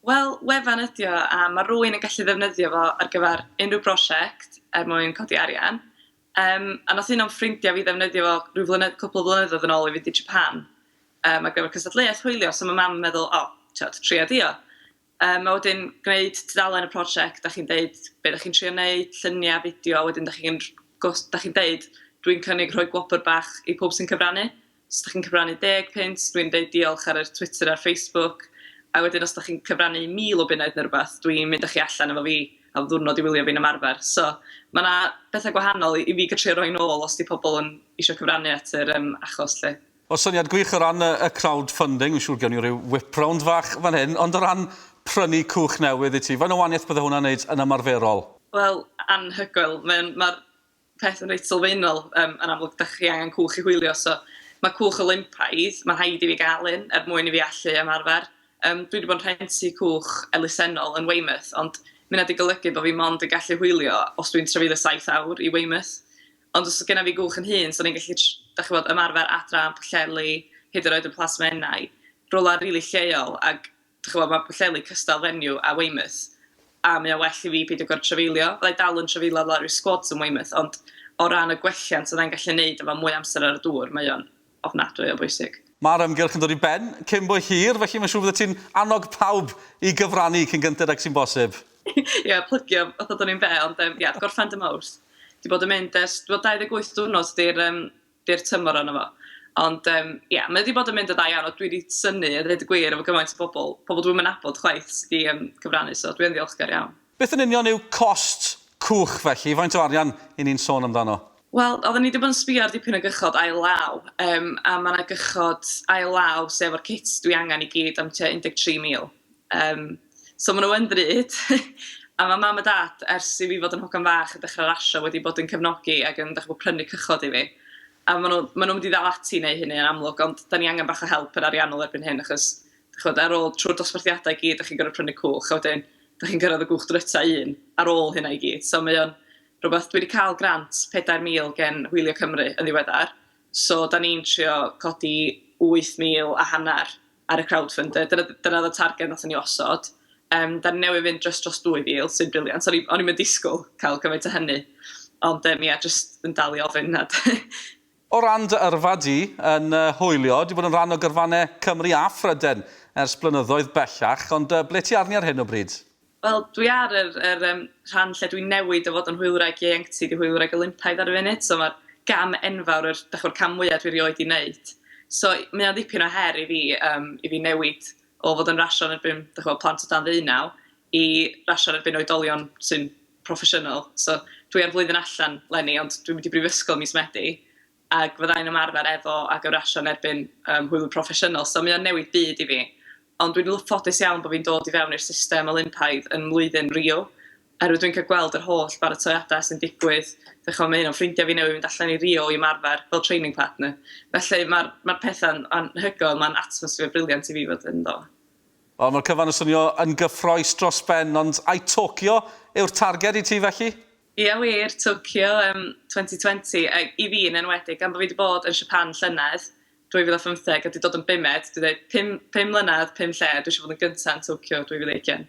Wel, wefan ydy o, a ma' rywun yn gallu ddefnyddio fo ar gyfer unrhyw brosiect er mwyn codi arian. Yym, a nath un o'm ffrindia fi ddefnyddio fo ryw flynedd- cwpwl o flynyddoedd yn ôl i fynd i Japan, yym ar gyfer cystadleuaeth hwylio, so ma' mam yn meddwl, o, t'od, tria di o. Yym a wedyn gwneud tudalen y prosiect, dach chi'n deud be' dach chi'n trio neud, llunia', fideo, wedyn dach chi'n r- gos- dach chi'n deud dwi'n cynnig rhoi gwobr bach i pawb sy'n cyfrannu. Os dach chi'n cyfrannu deg punt, dwi'n deud diolch ar yr Twitter a'r Facebook. A wedyn os dach chi'n cyfrannu mil o bunnoedd neu rwbath, dwi'n mynd â chi allan efo fi am ddiwrnod i wylio fi'n ymarfer. So, ma' 'na betha gwahanol i i fi gatrio roi nôl os 'di pobl yn isio cyfrannu at yr yym achos 'lly. O syniad gwych o ran y y crowd funding, fi'n siŵr gewn ni ryw whip round fach fan hyn, ond o ran prynu cwch newydd i ti, faint o wanieth bydde hwnna'n neud yn ymarferol? Wel, anhygoel. Mae o'n ma'r peth yn reit sylfaenol, yym, yn amlwg dach chi angen cwch i hwylio, so mae cwch Olympaidd, mae'n rhaid i fi gael un er mwyn i fi allu ymarfer. Yym, dwi wedi bod yn rhentu cwch elusennol yn Weymouth, ond ma' hynna 'di golygu bod fi mond yn gallu hwylio os dwi'n trafeilio saith awr i Weymouth. Ond os oedd genna fi gwch yn hŷn, 'sen i'n gallu tr- dach chibod, ymarfer adra yn Pwllheli, hyd yn oed yn Plas Menai, rywle rili lleol, ac dych ch'mod ma' Pwllheli cystal venue a Weymouth a mae o well i fi peidio gor'o' trafeilio. Fydda i dal yn trafeilio lawr i'r sgwds yn Weymouth ond o ran y gwelliant fyddai'n gallu neud efo mwy o amser ar y dŵr mae o'n ofnadwy o bwysig. Mae'r ymgyrch yn dod i ben cyn bo hir felly mae'n siŵr fyddet ti'n annog pawb i gyfrannu cyn gynted ag sy'n bosib. Ia, plygio fatha bod o'n un be' ond yym ia, gorffen dy Mowrth. Dwi 'di bod yn mynd ers, wel 28 diwrnod 'di'r yym byr tymor arno fo. Ond yym ia, mae o 'di bod yn mynd yn dda iawn, a dwi 'di synnu a ddeud y gwir efo gymaint o bobl, pobl dwi'm yn nabod chwaith sy 'di yym cyfrannu, so dwi yn ddiolchgar iawn. Beth yn union yw cost cwch felly? Faint o arian 'yn ni'n sôn amdano? Wel, oedden ni 'di bod yn sbio ar dipyn o gychod ail law, yym a ma' 'na gychod ail law, sef o'r cit dwi angen i gyd, am tua 13,000. Yym, so maen nhw yn ddrud. A mae mam a dad, ers i fi fod yn hogan fach a dechrau rasio, wedi bod yn cefnogi ac yn dach ch'mod prynu cychod i fi. A maen nhw maen nhw'n mynd i ddal ati i wneud hynny yn amlwg, ond 'dan ni angen bach o help yn ariannol erbyn hyn achos dach ch'mod ar ôl trwy'r dosbarthiadau i gyd dach chi'n gorfod prynu cwch a wedyn dach chi'n cyrraedd y gwch dryta un ar ôl hynna i gyd. So mae o'n rhywbeth... Dwi wedi cael grant 4,000 gen Hwylio Cymru yn ddiweddar, so 'dan ni'n trio codi 8,000 a hanner ar y crowdfunder. Dyna d- dyna oedd y targed wnaethon ni osod. Yym, dan ni newydd fynd jyst dros 2,000, sy'n briliant. O'n i o'n i'm yn disgwyl cael gymaint o hynny. Ond yym ie, jyst yn dal i ofyn a O ran dy yrfa di yn y hwyliau, di bod yn rhan o gyrfannau Cymru a Phryden ers blynyddoedd bellach, ond ble ti arni ar hyn o bryd? Wel, dwi ar yr yr yym rhan lle dwi'n newid o fod yn hwylwraig ieuenctid i hwylwraig Olympaidd ar y funud, so ma'r gam enfawr, yr dach ch'mod cam mwya dwi rioed 'di neud. So mae o'n ddipyn o her i fi yym i fi newid o fod yn rasio yn erbyn dach ch'mod plant o dan ddeunaw i rasio yn erbyn oedolion sy'n proffesiynol. So dwi ar flwyddyn allan 'leni ond dwi'n mynd i brifysgol mis Medi. ac fydda i'n ymarfer efo a gyfrasio yn erbyn yym hwyl proffesiynol, so mae o'n newid byd i fi. Ond dwi'n lw- ffodus iawn bo' fi'n dod i fewn i'r system Olympaidd yn mlwyddyn Rio, oherwydd dwi'n cael gweld yr holl baratoiadau sy'n digwydd, dych ch'mod ma' un o'n ffrindia fi newydd fynd allan i Rio i ymarfer fel training partner, felly ma'r ma'r petha'n anhygoel, ma'n atmosphere brilliant i fi fod ynddo. Wel ma'r cyfan yn swnio yn gyffroes dros ben, ond ai Tokyo yw'r targed i ti felly? Ia wir, Tokyo yym 2020, yy i fi yn enwedig gan bo' fi 'di bod yn Japan llynedd, 2015, a 'di dod yn bumed, dwi ddeud pum pum mlynadd, pum lle, dwi isio bod yn gynta yn Tokyo 2020.